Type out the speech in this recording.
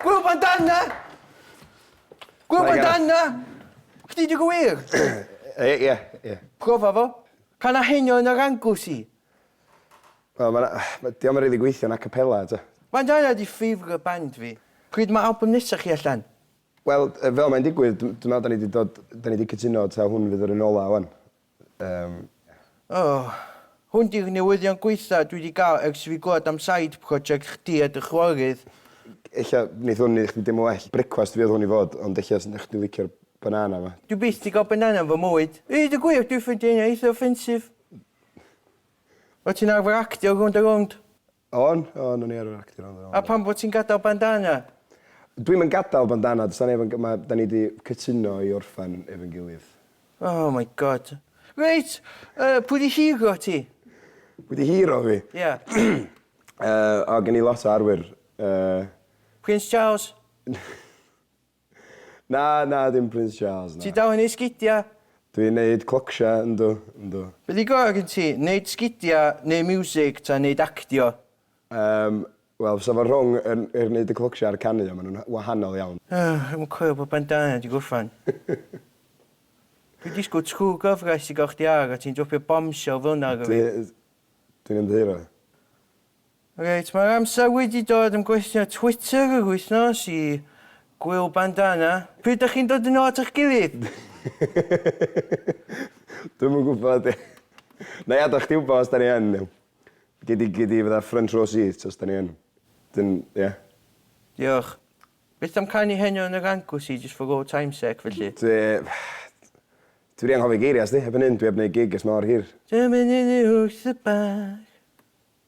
Gwyl bandana! Gwyl bandana! Chdi di gwir? Ie, ie, ie. Profa fo. Can a henio yn yr angws i. Wel, mae'n... Ma, Diolch yn rhaid i gweithio yn acapella, ta. Bandana di ffeifr y band fi. Pryd mae album nesaf chi allan? Wel, fel mae'n digwydd, dwi'n meddwl da ni di dod... Da ni di cytuno ta hwn fydd yr un ola, wan. Yym. Oh. Hwn di'r newyddion gwaetha dwi di gael ers i fi glywed am side project chdi a dy chwaerydd. Ella neith hwn neud chdi deimlo well. Brecwast fi oedd hwn i fod, ond ella snech chdi licio'r banana ma. Dwi byth di gael banana yn fy mywyd. I ddeud y gwir, dwi ffeindio heina eitha offensive. O't ti'n arfer actio rownd a rownd? O'n, o'n, o'n i arfer actio yno do. A pam fo ti'n gadal bandana? Dwi'm yn gadal bandana, does na neb yn ma- da ni di cytuno i orffen efo'n gilydd. Oh my God. Reit! Yy pwy di hero ti? Pwy di hero fi? Ia. Yy o gen i lot o arwyr yy. Prince Charles? Na, na, dim Prince Charles, na. Ti dal yn neud sgidia? Dwi'n neud clocsia, yndw, yndw. Be di gora gen ti, neud sgidia, neud miwsig, ta neud actio? Yym, wel, fysa fo rhwng yr yr neud y clocsia a'r canu, ond ma nhw'n wahanol iawn. O, dwi'm yn coelio bod bandana di gorffan. Dwi'n disgwyl true gyfres i gael chdi ar a ti'n dropio bombshell fel'na ar fi. Dwi, dwi'n ymddiheuro. Reit, mae'r amser wedi dod am gwestiynau Twitter yr wythnos i Gwyl Bandana. Pryd dach chi'n dod yn ôl at eich gilydd? Dwi'm yn gwybod. Nai adal chdi wybod os 'da ni yn. Gei di gei di fatha front row seat os 'da ni yn. Wedyn ia. Diolch. Beth am canu Heno yn yr Anglesey jyst for old time's sake felly? Dwi dwi 'di anghofio geiria' sdi. Erbyn hyn dwi 'eb neud gig ers mor hir. Dyma ni wrth y bar.